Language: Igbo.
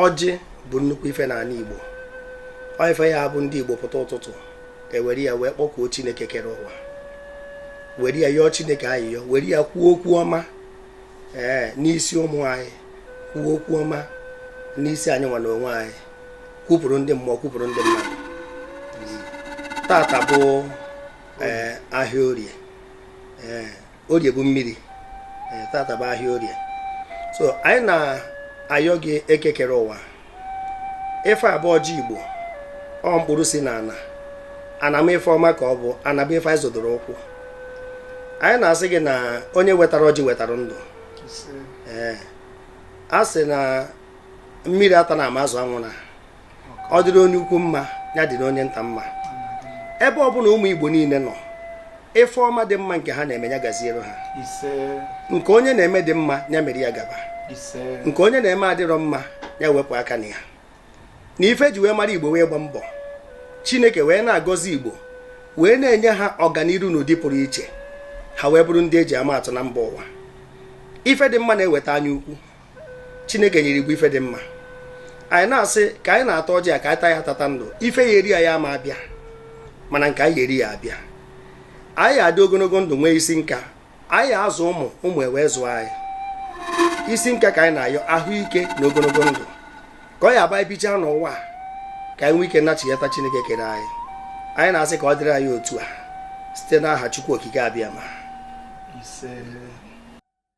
ọjị bụ nnukwu ife n'ana Igbo ọ ife ya bụ ndị Igbo pụta ụtụtụ ewere ya wee kpọkuo Chineke kere ụwa were ya yọọ Chineke ayịyọ were ya kwuo okwu ọma ee n'isi ụmụ anyị kwuo okwu ọma n'isi anyị nwa na onwe anyị kwupụrụ ndị mmụọ kwupụrụ ndị mmadụ tata bụ eh, ahịa orie eh, orie bụ mmiri eh, tata bụ ahịa orie so anyị na-ayọ gị eke kere ụwa ife a bụ ọjị igbo ọ mkpụrụ si na ana ana m ife ọma ka ọ bụ ana bụ ife anyị zọdoro ụkwụ anyị na-asị gị na onye wetara ọjị wetara ndụ ee a sị na mmiri atana ma azụ anwụna ọ dịrị onye ukwu mma ya dịrị onye nta mma ebe ọ bụna ụmụ igbo niile nọ ife ọma dị mma nke ha na-eme ya gaziere ha nke onye na-eme dị mma ya mere ya gaba nke onye na-eme adịrọ mma ya wepụ aka na ya na ife e ji wee mara igbo bụ ịgba mbọ chineke wee na-agọzi igbo wee na-enye ha ọganiru n'ụdị pụrụ iche ha wee bụrụ ndị eji ama atụ na mba ụwa ife dị mma na-eweta anya ukwu chineke nyere igbo ife dị mma anyị na-asị ka anyị na-ata ọjị a ka anyị taa ya tata ndụ ife ya-eri anyị ama abịa mana nke anyị ya-eri ya-abịa anyị adị ogonogo ndụ nwee isi nka anyị azụ ụmụ ụmụ ewee zụọ anyị isi nka ka anyị na-ayọ ahụike na ogonogo ndụ ka ọ ya-abụ e bichaa n'ụwa a, ka anyị nwee ike nachiyata chineke kere anyị anyị na-asị ka ọ dịrị anyị otu a site n'aha chukwu okike abịama ise